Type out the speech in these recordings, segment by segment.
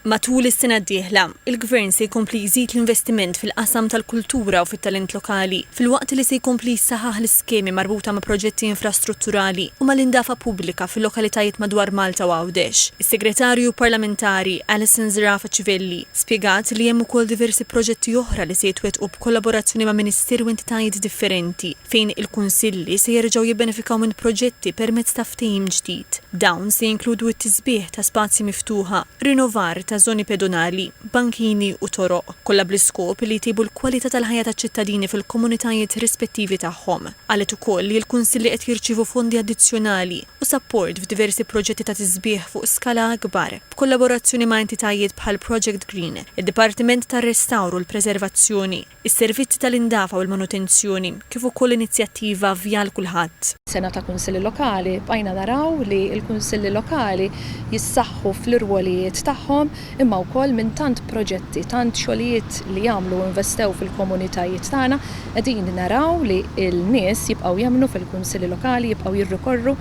Matul is-sena d-dieħla, il-Gvern se jkompli jżid l-investiment fil-qasam tal-kultura u fit-talent lokali, filwaqt li se jkompli jsaħħaħ l-iskemi marbuta ma' proġetti infrastrutturali u mal-indafa pubblika fil-lokalitajiet madwar Malta u Għawdex. Is-Segretarju Parlamentari Alison Zerafa Civelli spjegat li hemm ukoll diversi proġetti oħra li se jitwettqu b'kollaborazzjoni ma' Ministeri u entitajiet differenti, fejn il-kunsilli se jerġgħu jibbenefikaw minn proġetti permezz ta' ftehim ġdid. Dawn se jinkludu t-tisbiħ ta' spazji miftuħa, rinnovar ta' żoni pedonali, bankini u toroq, kollha bl-iskop li jtejbu l-kwalità tal-ħajja taċ-ċittadini fil-komunitajiet rispettivi tagħhom. Qalet ukoll li l-kunsilli qed jirċievu fondi addizzjonali u sapport f'diversi proġetti ta' tisbiħ fuq skala akbar, b'kollaborazzjoni ma' entitajiet bħal Project Green, id-Dipartiment tar-Restawr u l-Preservazzjoni, is-servizzi tal-indafa u l-manutenzjoni, kif ukoll inizjattiva Vjal Kulħadd. Sena ta' Kunsilli Lokali, bqajna naraw li l-Kunsilli Lokali jissaħħu fl-irwolijiet tagħhom imma wkoll minn tant proġetti, tant xogħlijiet li għamlu u investew fil-komunitajiet tagħna, qegħdin naraw li l-nies jibqgħu jemmnu fil-Kunsilli Lokali, jibqgħu jirrikorru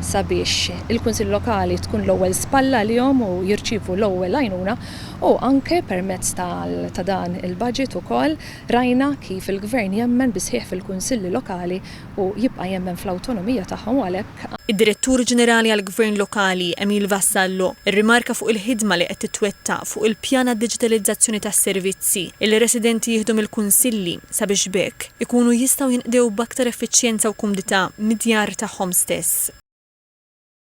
sabiex il-Kunsilli Lokali tkun l-ewwel spalla għalihom u jirċievu l-ewwel għajnuna. U anke permezz ta' dan il-budget ukoll rajna kif il-Gvern jemmen bis-sħiħ fil-Kunsilli Lokali u jibqa' jemmen fl-awtonomija tagħhom u għalhekk, Id-Direttur Ġenerali għall-Gvern Lokali, Emile Vassallo, irrimarka fuq il-ħidma li qed titwettaq fuq il-pjan għad-diġitalizzazzjoni tas-servizzi li residenti jieħdu mill-Kunsilli sabiex b'hekk ikunu jistgħu jinqdew b'aktar effiċjenza u kumdità mid-djar tagħhom stess.